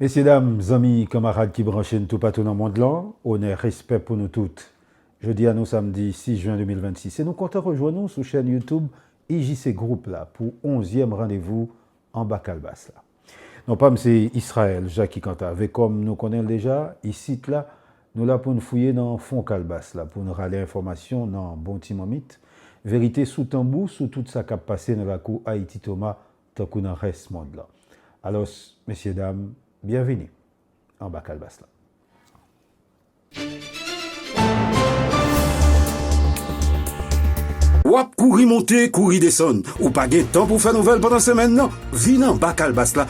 Mesye dam, zanmi, kanmarad ki branche n toupatou nan mond lan, onè, respè pou nou tout. Jodi a nou samdi 6 jen 2026 e nou kontan rejwenn ou sou chèn YouTube IJC Group la pou onzyèm randevou Anba Kalbas la. Non pa m se Israël Jacques Cantave e kòm nou konnen l deja, isit la, Nou la pou n fouye nan fon kalbas la, pou n rale enfòmasyon nan bon ti manmit, verite sou tanbou sou tout sa k ap pase nan lakou Ayiti-Toma tankou nan rès mond lan. Alòs, mesye dam, byenvini anba kalbas la. W ap kouri monte, kouri desann, ou pa gen tan pou w fè nouvèl pandan semèn nan? Vin anba kalbas la!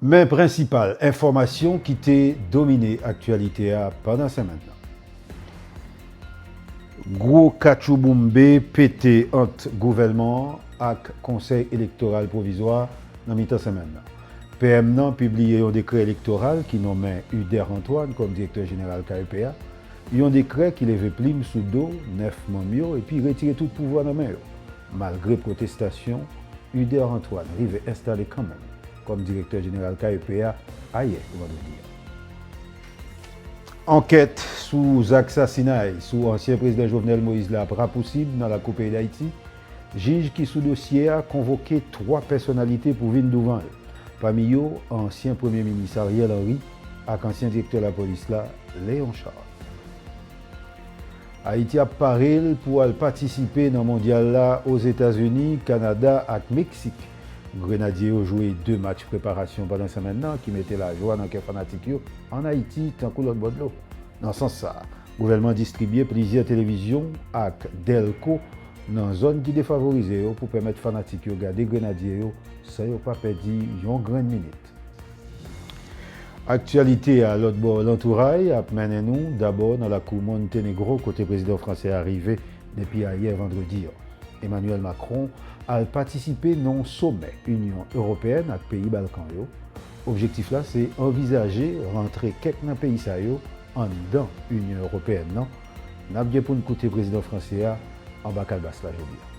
Men prensipal enfòmasyon ki te domine aktyalite a pandan semèn nan. Gwo katchouboumbe pete ant gouvèlman an ak konsèy elektoral pwovizwa nan mitan semèn nan. PM nan pibliye yon dekrè elektoral ki nonmen Uder Antoine kòm direktè jeneral KEP a. Yon dekrè ki leve plim sou do 9 manm yo epi retire tout pouvwa nan men yo. Malgre pwotestasyon, Uder Antoine rive enstale kanmenm kòm direktè jeneral KEP a ayè, vandredi a. Ankèt sou zak sasinay sou ansyen prezidan Jovenel Moïse la ap rapousib nan lakou peyi Dayiti. Jij ki sou dosye a konvoke 3 pèsonalite pou vin douvan l, pami yo ansyen premye minis Ariel Henry, ak ansyen direktè lapolis la, Léon Charles. Ayiti ap pare l pou al patisipe nan Mondyal la Ozetazini, Kanada ak Meksik. Grenadye yo jwe 2 match preparasyon pandan senmenn nan ki mete lajwa nan kè fanatik yo an Ayiti tankou lòt bò dlo. Nan sans sa, gouvènman distribye plizyè televizyon ak dèlko nan zòn ki defavorize yo pou pèmèt fanatik yo gade Grenadye yo san yo pa pèdi yon grenn minit. Aktyalite a lòt bò lantouray ap mennen nou dabò nan lakou Montenegro kote prezidan fransè a rive depi ayè vandredi an. Emmanuel Macron al patisipe nan yon somè Inyon Ewopeyèn ak peyi Balkan yo, objektif la se anvizaje rantre kèk nan peyi sa yo anndan Inyon Ewopeyèn nan, n ap gen pou n koute prezidan fransè a anba kalbas la jodi a.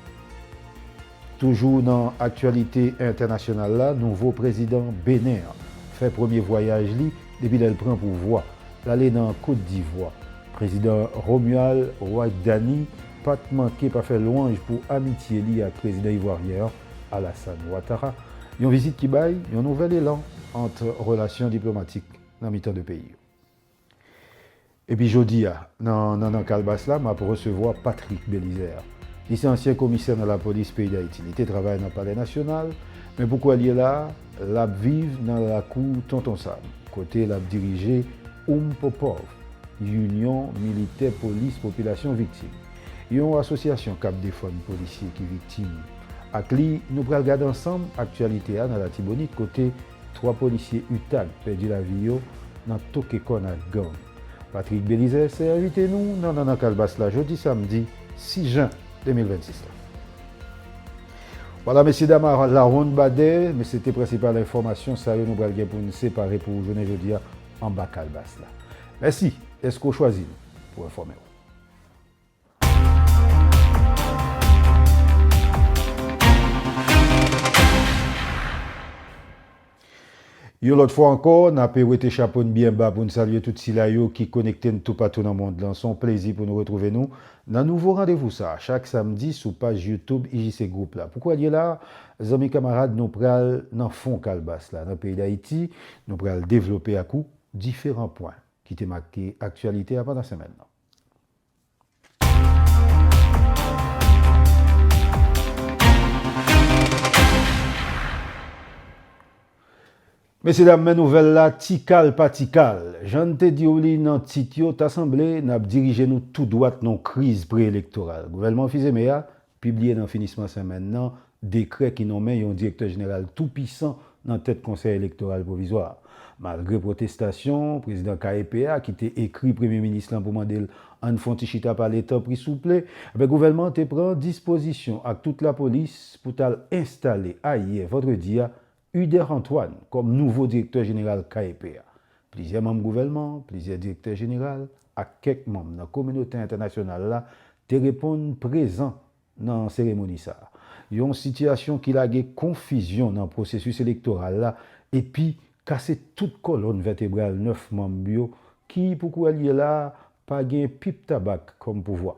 Toujou nan aktyalite entènasyonal la, nouvo prezidan Benen an fè premye vwayaj li depi lè l pran pouvwa, l ale nan Kot Divwa. Prezidan Romuald Ouaddani pa t manke pa fè lwanj pou amitye li ak prezidan ivwaryen an, Alassane Ouattara, yon vizit ki bay yon nouvèl elan ant relasyon diplomatik nan mitan 2 peyi yo. Epi jodi a, nan Nannan Kalbas la, m ap resevwa Patrick Belizaire. Li se ansyen komisè nan lapolis peyi Dayiti. Li te travay nan Palè Nasyonal, men pou kouwè l ye la, l ap viv nan lakou Tonton Sam, kote l ap dirije Umpopov, Unyon Militè Polis Popilasyon Viktim, yon asosyasyon k ap defann polisye ki viktim. Ak li, nou pral gade ansanm aktyalite a nan Latibonit, kote 3 polisye utag pèdi lavi yo nan toke kòn ak gang. Patrick Belizaire se envite nou nan Nannan Kalbas la jodi samdi 6 jen 2026 la. Wala mesye dam a la wonn badè, men se te prensipal enfòmasyon sa yo nou pral gen pou n separe pou ou jounen jodi a anba kalbas la. Mèsi dèske w chwazi nou pou enfòme w. Yon lòt fwa ankò, n ape wete chapo n byen ba pou n salye tout sila yo ki konekte n toupatou nan mond lan. Se yon plezi pou nou retwouve nou nan nouvo randevou sa a chak samdi sou paj YouTube IJC Group la. Pou kòlye la a, zanmi kamarad, nou pral nan fon kalbas la, nan peyi Dayiti. Nou pral devlope ak ou diferan pwen ki te make aktyalite a pandan semèn nan. Mesye dam men nouvèl la tikal pa tikal. Jan n te diw li nan tit yo ta sanble nap dirije nou tou dwat nan yon kriz pre-elektoral. Gouvèlman Fils-Aimé a Pibliye nan finisman senmenn nan dekrè ki nonmen yon direktè jeneral tou pisan nan tèt Konsèy Elektoral Pwovizwa a. Malgre pwotestasyon prezidan KEP a ki te ekri premye minis lan pou mande l ann fon ti chita pale tanpri souple, anben gouvènman an te pran dispozisyon ak tout lapolis pou t al enstale ayè vandredi a Uder Antoine kòm nouvo direktè jeneral KEP a. Plizyè manm gouvèlman an, plizyè direktè jeneral ak kèk manm nan kominote entènasyonal la te reponn prezan nan seremoni sa a. Yon sitiyasyon ki lage konfizyon nan pwosesis elektoral la epi kase tout kòlonn vètebral 9 manm yo ki, pou kouwè l ye la a, pa gen pip tabak kòm pouvwa.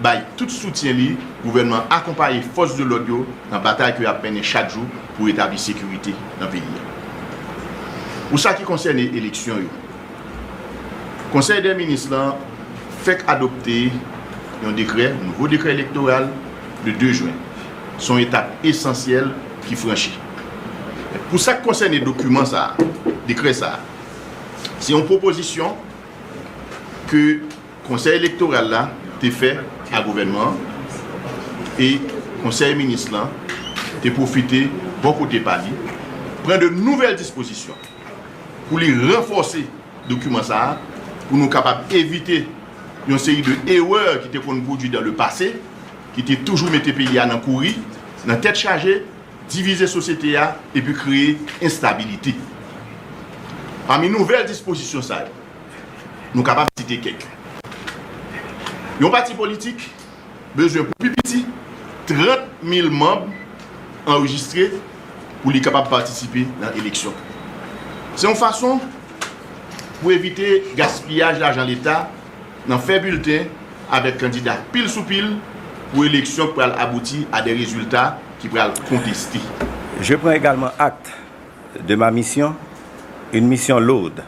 bay tout soutyen li, gouvènman an akonpaye fòs de lòd yo nan batay ke y ap mennen chak jou pou retabli sekirite nan peyi a. Pou sa ki konsène eleksyon yo, Konsèy dè Minis lan fèk adopte yon dekrè, nouvo dekrè elektoral, le 2 jwen. Se yon etap esansyèl ki franchi. Men, pou sa k konsène dokiman sa a, dekrè sa a, se yon pwopozisyon ke. Konsèy elektoral la te fè a gouvènman an e konsèy minis lan te pwofite bò kote pa li pran de nouvèl dispozisyon pou li ranfòse dokiman sa a pou nou kapab evite yon seri de erè ki te konn pwodwi dan le pase ki te toujou mete peyi a nan kouri, nan tèt chaje, divize sosyete a epi kreye enstabilite. Pami nouvèl dispozisyon sa yo. Nou kapab site kèk. Yon pati politik bezwen pou pi piti 30 mil manb anrejistre pou li kapab patisipe nan eleksyon. Se yon fason pou evite gaspiyaj lajan leta nan fè bilten avèk kandida pil sou pil pou eleksyon k pral abouti a de rezilta ki pral konteste. Je prends également acte de ma mission, une mission lourde.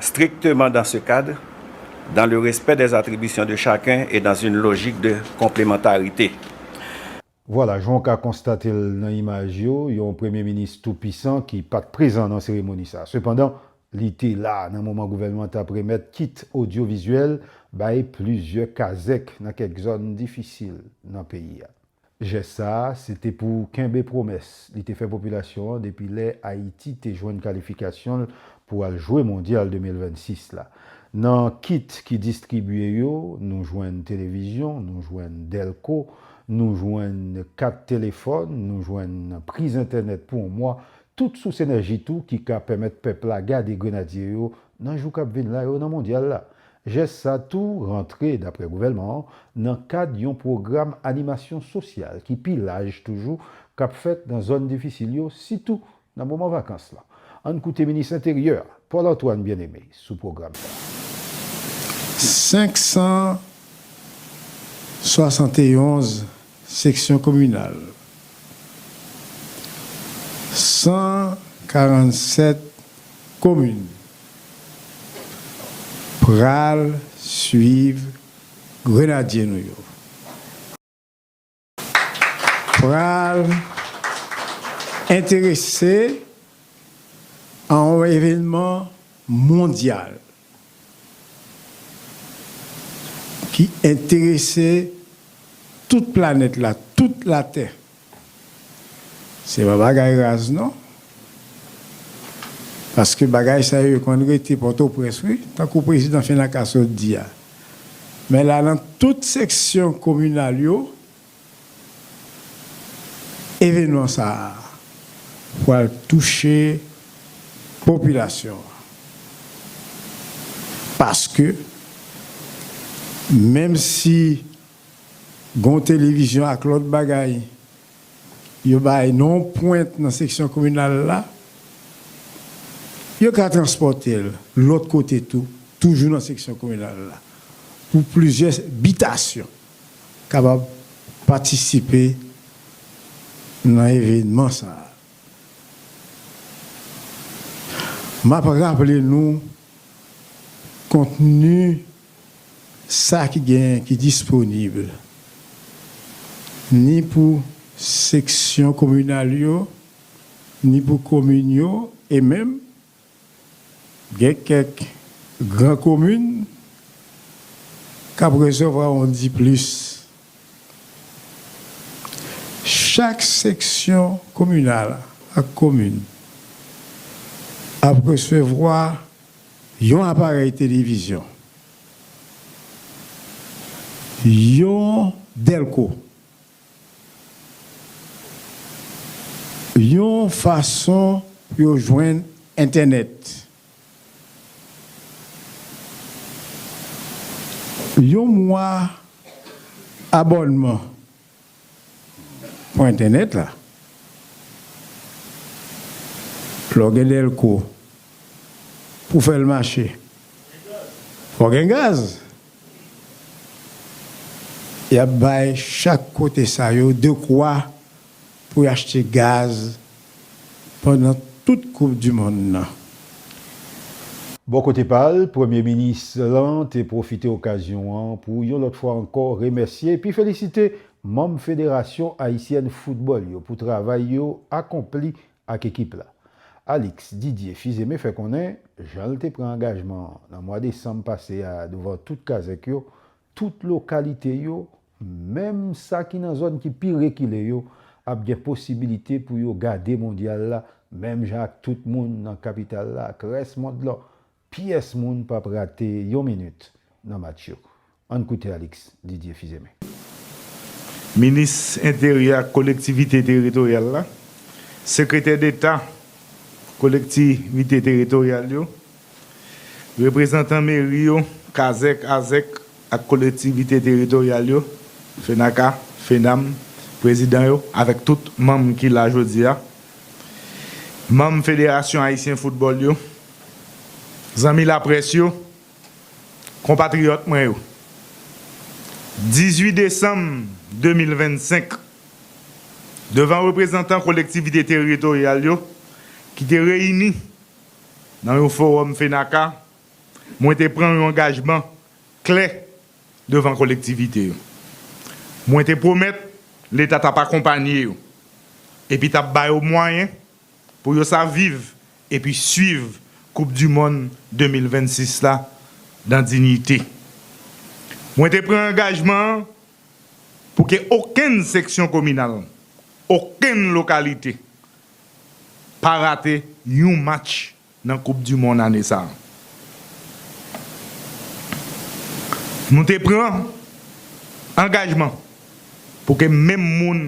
strictement dans ce cadre, dans le respect des attributions de chacun et dans une logique de complémentarité. Vwala, jan w ka konstate l nan imaj yo, yon premye minis tou pisan ki pa t prezan nan seremoni sa. Sepandan, li te la nan moman gouvènman an t ap remèt kit odyovizyèl bay plizyè kazèk nan kèk zòn difisil nan peyi a. Jès sa a, se te pou kenbe pwomès li te fè popilasyon an depi lè Ayiti te jwenn kalifikasyon l pou al jwe Mondyal 2026 la. Nan kit ki distribye yo, nou jwenn televizyon, nou jwenn dèlko, nou jwenn kat telefòn, nou jwenn priz entènèt pou on mwa, tout sous enèji tou ki ka pèmèt pèp la gade Grenadye yo nan jou k ap vin la yo nan Mondyal la. Jès sa tou rantre, daprè gouvèlman an, nan kad yon pwogram animasyon sosyal ki pi laj toujou k ap fèt nan zòn difisil yo, sitou nan moman vakans lan. Ann koute minis enteryè a, Paul Antoine Bien-Aimé sou pwogram sa a. 571 Seksyon kominal 147 komin pral swiv grenadye nou yo pral enterese a yon evenman mondyal. ki enterese tout planèt la, tout latè. Se pa bagay raz non. Paske bagay sa yo konn rete Pòtoprens wi, tankou prezidan Fenaca sot di a. Men la nan tout seksyon kominal yo, Evenman sa a pral touche popilasyon an paske menm si gon televizyon ak lòt bagay yo bay nan yon pwent nan seksyon kominal la, yo ka transpòte l lòt kote tou, toujou nan seksyon kominal la pou plizyè bitasyon. kapab patisipe nan evenman sa a. M ap raple nou kontni sa ki genyen ki disponib ni pou seksyon kominal yo, ni pou komin yo e menm. Gen kèk gran komin k ap resevwa yon diplis. Chak seksyon kominal ak komin ap resevwa yon aparèy televizyon, yon dèlko Yon fason pou yo jwenn entènèt. Yon mwa abònman pou entènèt la. Lè w gen dèlko pou w fè l mache, fò w gen gaz. Y ap bay chak kote sa yo dekwa pou y achte gaz pandan tout koup du mond nan. Bò kote pa l, Premye Minis lan te pwofite okazyon an pou yon lòt fwa ankò remèsye epi felisite manm Federasyon Ayisyèn Foutbòl yo pou travay yo akonpli ak ekip la. Alix Didier Fils-Aimé fè konnen jan l te pran angajman nan mwa desanm pase a douvan tout kazèk yo, tout lokalite yo, menm sa ki nan zòn ki pi rekile yo, ap gen posibilite pou yo gade mondyal la menm jan ak tout moun nan kapital la ak rès mond lan. Pyès moun pap rate yon minit nan match yo. Ann koute Alix Didier Fils-Aimé. Minis Enteryè ak Kolektivite Teritoryal la, Sekretè Deta Kolektivite Teritoryal yo, Reprezantan Meri yo, Kazèk, Azèk ak Kolektivite Teritoryal yo, Fenaca, Fenam, Prezidan yo avèk tout manm ki la jodi a, Manm Federasyon Ayisyen Foutbòl yo, Zanmi laprès yo, konpatriyòt mwen yo, 18 desanm 2025, devan reprezantan kolektivite teritoryal yo ki te reyini nan yon fowòm FENAKA, mwen te pran yon angajman klè devan kolektivite yo. Mwen te pwomèt Leta t ap akonpanye yo epi t ap ba yo mwayen Pou yo sa viv epi swiv koup du mond 2026 la dan dignite. Mwen te pran angajman an pou ke okenn seksyon kominal, okenn lokalite pa rate yon match. Nan koup du mond ane sa a. Nou te pran angajman pou ke menm moun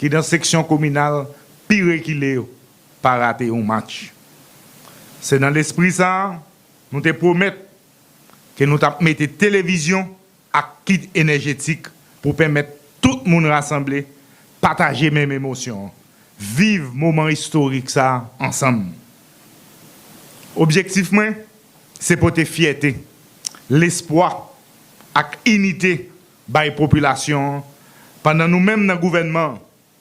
ki dan seksyon kominal pi rekile yo pa rate yon match. Se nan lespri sa a nou te pwomèt ke nou tap mete televizyon ak kit enèjetik pou pèmèt tout moun rasanble, pataje menm emosyon, viv moman istorik sa ansanm. Objektif mwen se pote fyète, lespwa ak inite bay popilasyon an pandan nou menm nan gouvènman an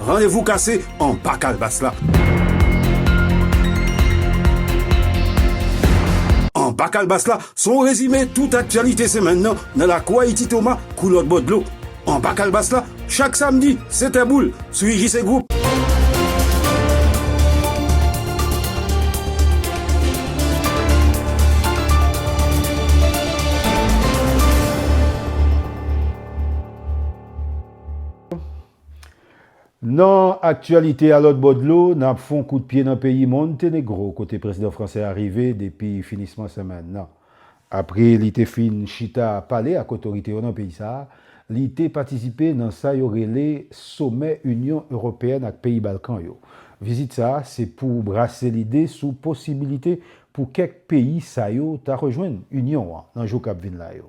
Randevou kase anba kalbas la. Anba kalbas la se yon rezime tout aktyalite semèn nan nan lakou Ayiti Toma kou lòt bò dlo. Anba kalbas la chak samdi 7 è boul sou IJC Group. Nan aktyalite a lòt bò dlo, n ap fon kout pye nan peyi Montenegro kote prezidan fransè a rive depi finisman semèn nan. Apre li te fin chita pale ak otorite yo nan peyi sa a, li te patisipe nan sa yo rele somè Inyon Ewopeyèn ak peyi Balkan yo. Vizit sa a se pou brase lide sou posibilite pou kèk peyi sa yo ta rejwenn Inyon an nan jou k ap vin la yo.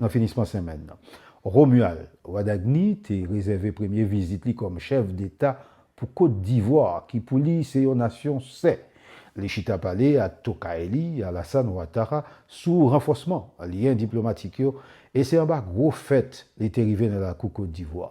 nan finisman senmenn nan. Romuald Wadagni te rezève premye vizit li kòm chèf deta pou Kot Divwa ki pou li se yon nasyon sè. Li chita pale ak tokay li Alassane Ouattara sou ranfòsman lyen diplomatik yo e se anba gwo fèt li te rive nan lakou Kot Divwa.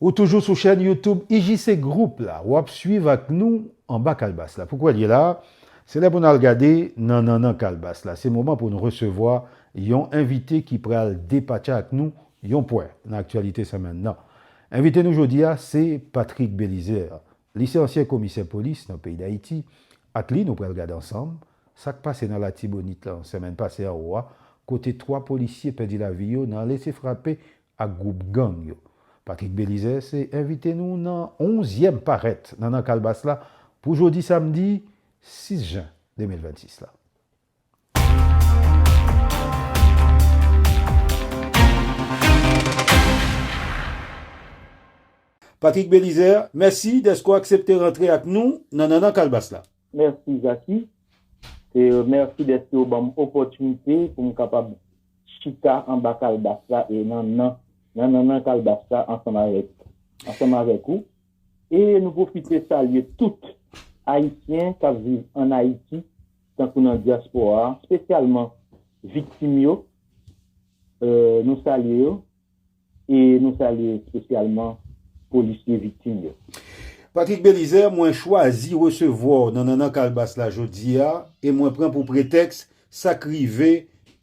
Ou toujou sou chèn YouTube IJC Group la, wap swiv ak nou anba kalbas la. Poukwe liye la a? Se lè pou n al gade nan nannan kalbas la. Se moman pou n resevwa yon envite ki pral depatcha ak nou yon pwè nan aktyalite senmenn nan. Envite nou jodi a se Patrick Belizaire. Li se ansyen komisè polis nan peyi Dayiti. Ak li nou pral gade ansanm sa k pase nan Latibonit lan senmenn pase anwo a kote 3 polisye pèdi lavi yo nan lese frape ak gwoup gang yo. Patrick Belizaire se envite nou nan onzyèm parèt nan Nan Kalbas la pou jodi samdi 6 jen 2026 la. Patrick Belizaire, mèsi dèske w aksepte rantre ak nou nan Nan Kalbas la. Mèsi Jacky. Mèsi dèske w ban m opòtinite pou m kapab chita anba kalbas la e nan nan nan nannan kalbas la ansanm avèk ansanm avèk ou e nou pwofite salye tout Ayisyen kap viv an Ayiti tankou nan dyaspora spesyalman viktim yo nou salye yo. e nou salye espesyalman polisye viktim yo. Patrick Belizaire, mwen chwazi resevwa w nan Nannan Kalbas la jodi a e mwen pran pou pretèks sa k rive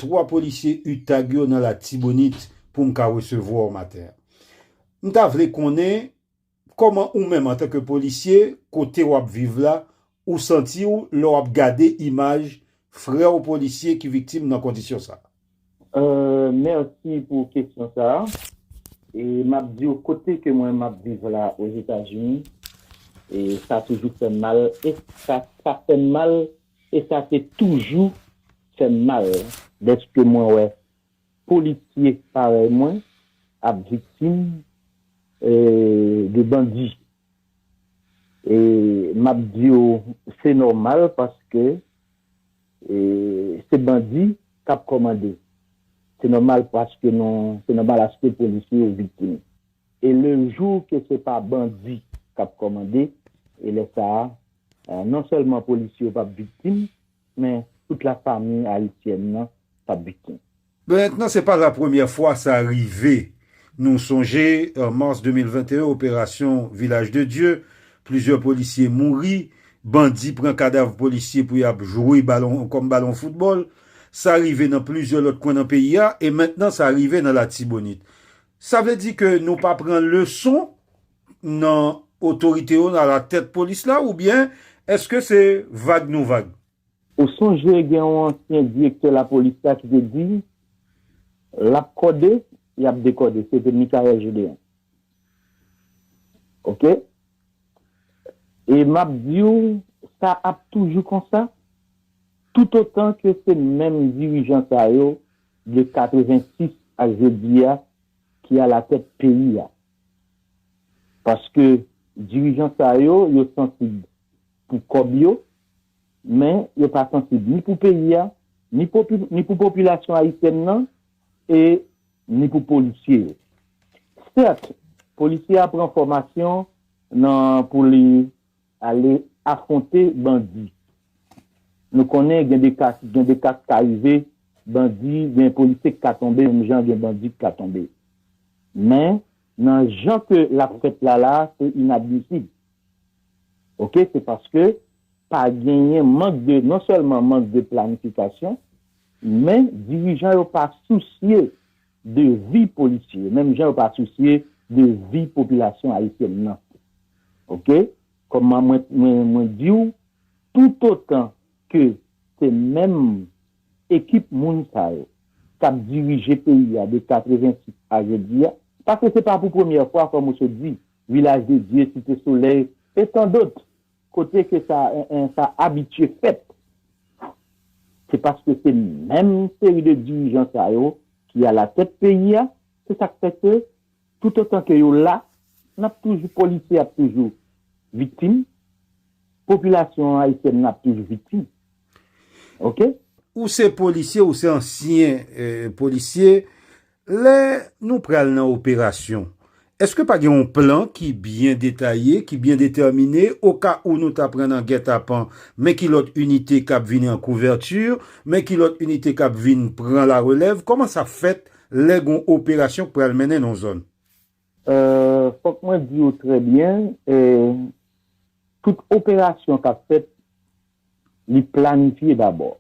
3 polisye utag yo nan Latibonit pou m ka resevwa w maten an. M ta vle konnen Kòman ou menm antanke polisye kote w ap viv la ou santi w lè w ap gade imaj frè w polisye ki viktim nan kondisyon sa? Mèsi pou kesyon sa. M ap di w kote ke mwen m ap viv la Ozetazini sa toujou fè m mal e sa fè m mal e sa te toujou fè m mal dèske mwen wè Polisye parèy mwen ap viktim de bandi e map diw se nòmal paske se bandi kap kòmande se nòmal paske nou se nòmal aske polisye yo viktim. E le jou ke se pa bandi kap kòmande e lè sa non sèlman polisye yo pap viktim Men tout la fami ayisyèn nan tap viktim. Bèt nan se pa la premyè fwa sa rive. Nou sonje an mars 2021 operasyon Vilaj de Dye, plizyè polisye mouri, bandi pran kadav polisye pou yap jwe balon kòm balon foutbòl. Sa rive nan plizyè lòt kwen nan peyi a e mentnan sa rive nan latibonit. Sa vle di ke nou pa pran leson nan otorite yo alatèt polis la oubyen èske se vag nou vag? Ou sonje gen yon ansyen direktè lapolis la ki te di, L ap kòde, y ap dekòde. Se te Michaëlle Gédéon. Oke. E m ap di w sa ap toujou konsa toutotan ke se menm dirijan sa yo de 86 a jodi a ki alatèt peyi a. Paske dirijan sa yo, yo sansib pou kòb yo, men yo pa sansib ni pou peyi a, ni pou popilasyon ayisyèn nan, e ni pou polisye yo. Sèt, polisye a pran fòmasyon nan pou li Ale afwonte bandi. Nou konnen gen de ka gen de ka k ka rive bandi gen polisye k ka tonbe menm jan gen bandi k ka tonbe. Men nan jan ke l ap fèt la la a se inadmisib. Ok se paske pa genyen mank de non sèlman mank de planifikasyon men dirijan yo pa sousye de vi polisye yo menm jan yo pa sousye de vi popilasyon ayisyèn nan ok kòman mwen diw toutotan ke se menm ekip moun sa yo kap dirije peyi a de 86 a jodi a paske se pa pou premyè fwa kòm ou sot di vilaj de dye site solèy e tandot. Kote ke sa sa abitye fèt? Se paske se menm seri de dirijan sa yo ki alatèt peyi a, se sa k fè ke toutotan ke yo la, n ap toujou, polisye ap toujou viktim, popilasyon ayisyèn nan ap toujou viktim. Ok? Ou se polisye, ou se ansyen polisye. Lè nou pral nan operasyon, èske pa gen yon plan ki byen detaye, ki byen detèmine oka ou nou ta pran nan gètapan, men ki lòt inite k ap vini an kouvèti, men ki lòt inite k ap vin pran larelèv, kòman sa fèt lè gen yon operasyon k pral mennen nan yon zòn? Fòk mwen di ou trè byen, tout operasyon k ap fèt, li planifye dabò.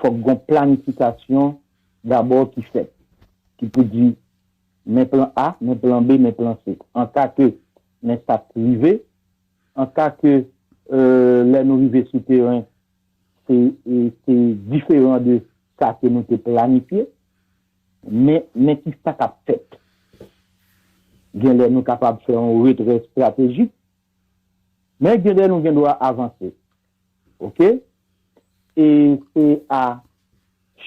Fòk gon planifikasyon dabò ki fèt, ki pou di men plan A, men plan B, men plan C. An ka ke men sa k rive, an ka ke lè nou rive sou teren, se diferan de sa ke nou te planifye, Men, men ki sa k ap fèt. Gen lè nou kapab fè yon retrè estratejik, men gen lè nou gen dwa avanse. Ok. E se a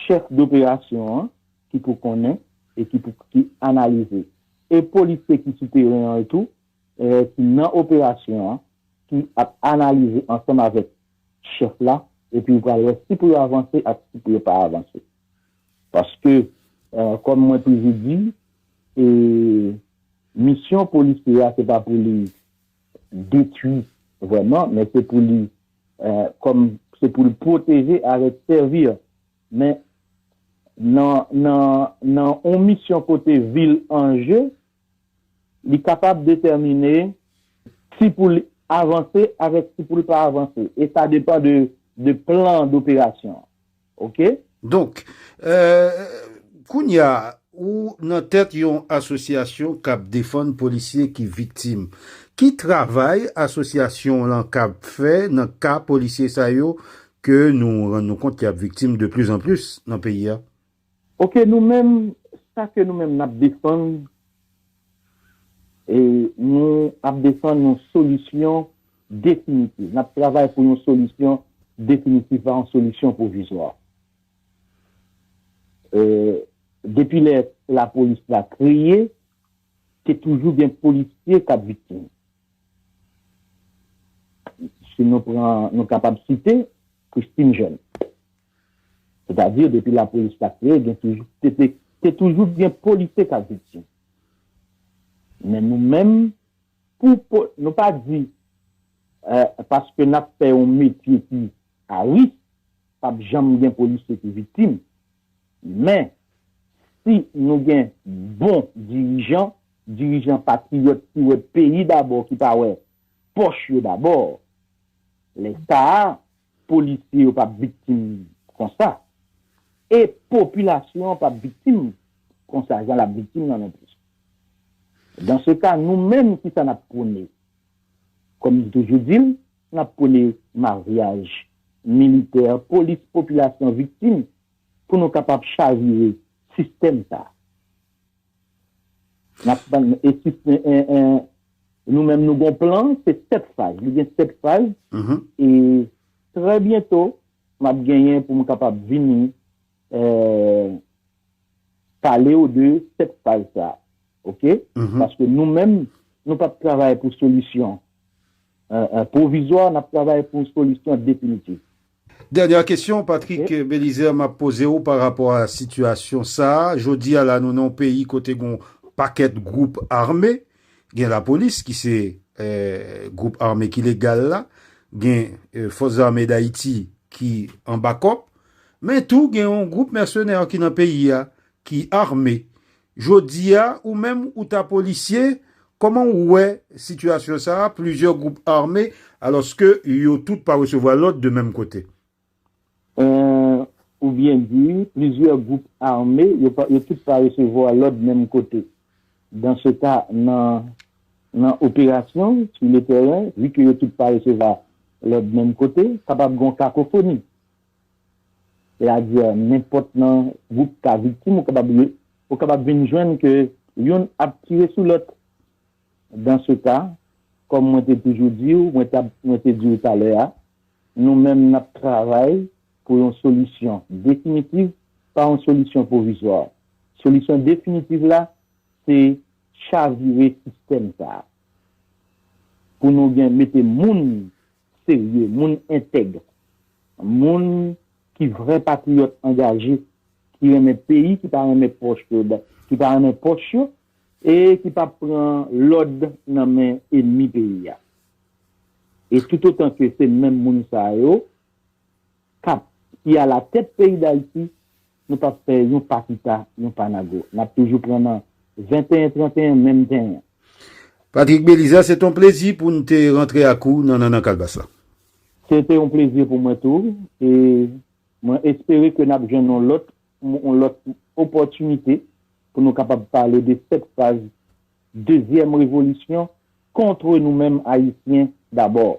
chèf doperasyon an ki pou konnen e ki pou ki analize. E polisye ki sou teren an tou, ki nan operasyon an, ki ap analize ansanm avèk chèf la, epi yo pral wè si pou yo avanse ak si pou yo pa avanse. Paske, kòm mwen toujou di, misyon polisye a se pa pou li detui vrèman, men se pou li kòm se pou l pwoteje avèk sèvi. Men nan yon misyon kote vi l an je, li kapab detèmine si pou l avanse avèk si pou l pa avanse. E sa depan de plan doperasyon an. ok. Donk, kounya ou nan tèt yon asosyasyon k ap defann polisye ki viktim. Ki travay asosyasyon w lan kab fè nan ka polisye sa yo ke nou rann nou kont y ap viktim de plis an plis nan peyi a? Ok, nou menm, sa ke nou menm n ap defann, e nou ap defann yon solisyon. definitiv. N ap travay pou yon solisyon definitif, pa yon solisyon pwovizwa. Depi lè lapolis la kreye, te toujou gen polisye k ap viktim. Si nou pran, nou kapab site Christine Jeune. Sètadi, depi lapolis la kreye, gen toujou, te te, te toujou gen polisye k ap viktim. Men nou menm, Pou pou nou pa di eh paske nap fè yon metye ki a risk pap janm gen polisye ki viktim men si nou gen bon dirijan, dirijan patriyòt ki wè peyi dabò ki pa wè pòch yo dabò lè sa a Polisye yo pap viktim konsa. E popilasyon an pap viktim konsa jan lap viktim lan non plis. Dans se ka nou menm kisa nap pwone? Kòm m toujou di l, nap pwone maryaj militè, polis, popilasyon viktim pou nou kapab chavire sistèm sa. Nap tann e si nou menm nou gon plan se 7 faz li gen 7 faz e trè byento map genyen pou m kapab vini pale w de 7 faz sa ok paske nou menm nou pap travay pou solisyon pwovizwa nap travay pou solisyon definitif Dènya kesyon Patrick Belizaire map poze w pa rapò a sitiyasyon sa, jodi a la nou nan yon peyi kote gen yon pakèt gwoup ame, gen lapolis ki se gwoup ame ki legal la, gen fòs zame dayiti ki an bakòp, men tou gen yon gwoup mèsenè ki nan peyi a ki ame, Jodia ou menm ou ta polisye, kòman ou wè sitiyasyon sa a, plizyè gwoup ame alòske yo tout pa resevwa lòd de menm kote? Humm ou byen di wi, plizyè gwoup ame yo tout pa resevwa lòd menm kote. Dans ce cas nan nan operasyon sou le tèren, vu que yo tout pa resevwa lòd menm kote, kapab gen yon kakofoni. sètadi nenpòt nan gwoup ka viktim ou kapab ye, ou kapab vin jwenn ke youn ap tire sou lòt. Dans ce cas, kòm mwen te toujou di ou, mwen ta, mwen te di ou talè a, nou menm n ap travay pou yon solisyon definitiv, pa yon solisyon pwovizwa. Solisyon definitiv la, se chavire sistèm sa a pou nou gen, mete moun serye, moun entèg, moun ki vrè patriyòt angaje, ki renmen peyi, ki pa renmen pòch yo, ki pa renmen pòch yo e ki pa p pran lòd nan men enmi peyi a. E toutotan ke se menm moun sa yo, kap ki a la tèt peyi dayiti nou pap fè yon pa kita yon pa nago nap toujou pran nan 21 31 menm tenyen. Patrick Belizaire se te yon plezi pou n te rantre ak ou nan Nannan Kalbas la. Se te yon plezi pou mwen tou e mwen espere ke nap jwenn yon lòt yon lòt opòtinite pou nou kapab pale de 7 faz dezyèm revolisyon kontre nou menm ayisyen dabord.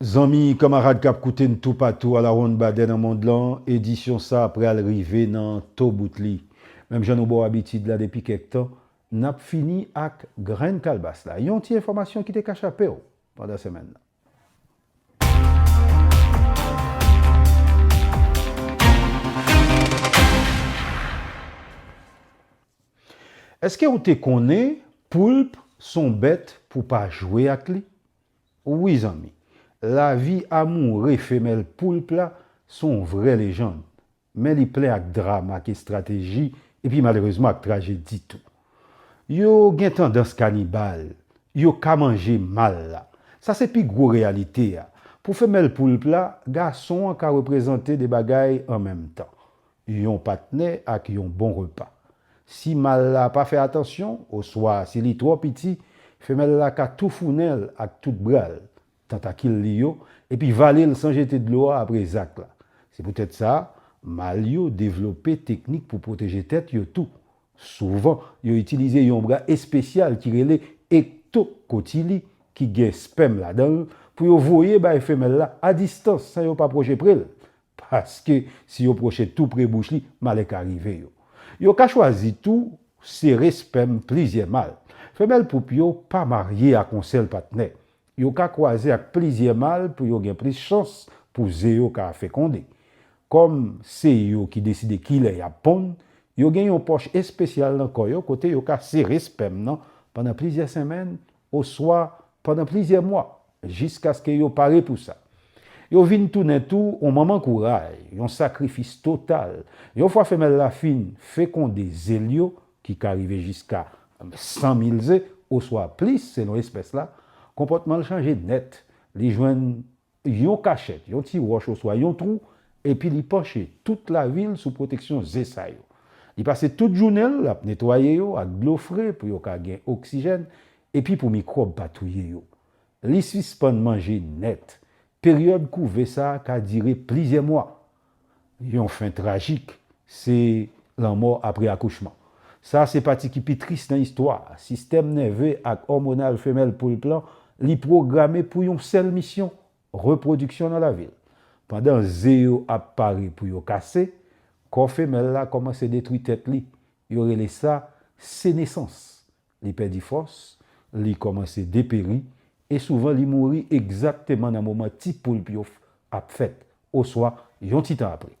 Zanmi, kanmarad k ap koute n toupatou alawonnbadè nan mond lan, edisyon sa a pral rive nan to bout li. Menm jan nou ba w abitid la depi kèk tan, n ap fini ak Grenn Kalbas la, yon ti enfòmasyon ki te ka chape w pandan semèn nan. Èske w te konnen poulp s on bèt pou w pa jwe ak li? Wi zanmi, lavi amoure femèl poulp la son vrè lejand, men li plen ak dram ak estrateji epi malerezman ak trajedi tou. Yo gen tandans kanibal, yo ka manje mal la. Sa se pi gwo reyalite a. Pou femèl poulp la, gason an ka reprezante 2 bagay an menm tan. yon patnè ak yon bon repa. Si mal la pa fè atansyon oswa si li twò piti, femèl la ka toufounen l ak tout bra l, tantakil li yo, epi vale l san jete dlo a apre zak la. Se poutèt sa, mal yo devlope teknik pou pwoteje tèt yo tou. Souvan, yo itilize yon bra espesyal ki rele ektokotili ki gen spèm ladan l pou yo voye bay femèl la a distans san yo pa pwoche pre l, paske si yo pwoche tou pre bouch li, malè ka rive yo. Yo ka chwazi tou sere spèm plizyè mal. Femèl poup yo pa marye ak yon sèl patnè. Yo ka kwaze ak plizyè mal pou yo gen plis chans pou ze yo ka fekonde. Kòm se yo ki deside kilè y ap ponn, yo gen yon pòch espesyal nan kò yo kote yo ka sere spèm nan pandan plizyè senmenn oswa pandan plizyè mwa. jiskaske yo pare pou sa. Yo vin tounen tou yon manman kouray, yon sakrifis total. Yon fwa femèl la fin fekonde ze l yo, ki ka rive jiska 100 mil ze oswa plis selon espès la, konpòtman l chanje nèt, li jwenn yon kachèt, yon ti wòch oswa yon twou, epi li panche tout lavi l sou pwoteksyon ze sa yo. Li pase tout jounen l ap netwaye yo ak dlo fre pou yo ka gen oksijèn Epi pou mikwòb pa touye yo, li sispann manje nèt. Peryòd kouve sa ka dire plizyè mwa. Yon fen trajik se lanmò apre akouchman. Sa se pati ki pi tris nan istwa a. Sistèm nève ak òmonal femèl poulp lan, li pwograme pou yon sèl misyon, repwodiksyon nan lavi l. Pandan ze yo ap pare pou yo kase, kò femèl la kòmanse detwi tèt li. Yo rele sa senesans, Li pèdi fòs, li kòmanse deperi, e souvan li mouri egzakteman nan moman ti poulp yo ap fèt, oswa yon ti tan apre.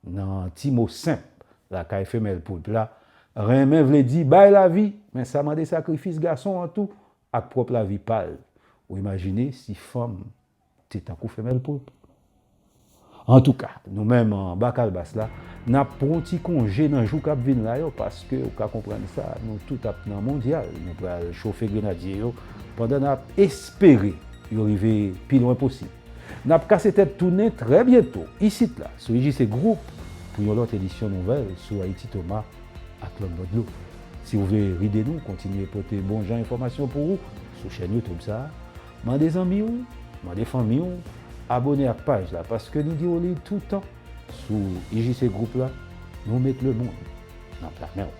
Nan ti mo senp lakay femèl poulp la, renmen vle di bay lavi, men sa mande sakrifis gason an tou ak pwòp lavi pa l. Ou imajine si fanm te tankou femèl poulp. Antouka, nou menm anba kalbas la, n ap pran yon ti konje nan jou k ap vin la yo paske ou ka konprann sa, nou tout ap nan mondyal, nou pral chofe grenadye yo pandan n ap espere yo rive pi lwen posib. N ap kase tèt tounen trè byento isit la sou IJC Group pou yon lòt edisyon nouvèl sou Ayiti Toma ak lòt bò dlo. Si ou vle ride nou kontinye pote bon jan enfòmasyon pou ou sou chèn YouTube sa, Mande zanmi w, mande fanmi w abone ak paj la paske nou di w li toutan sou IJC Group la, nou met lemonn nan pla men w.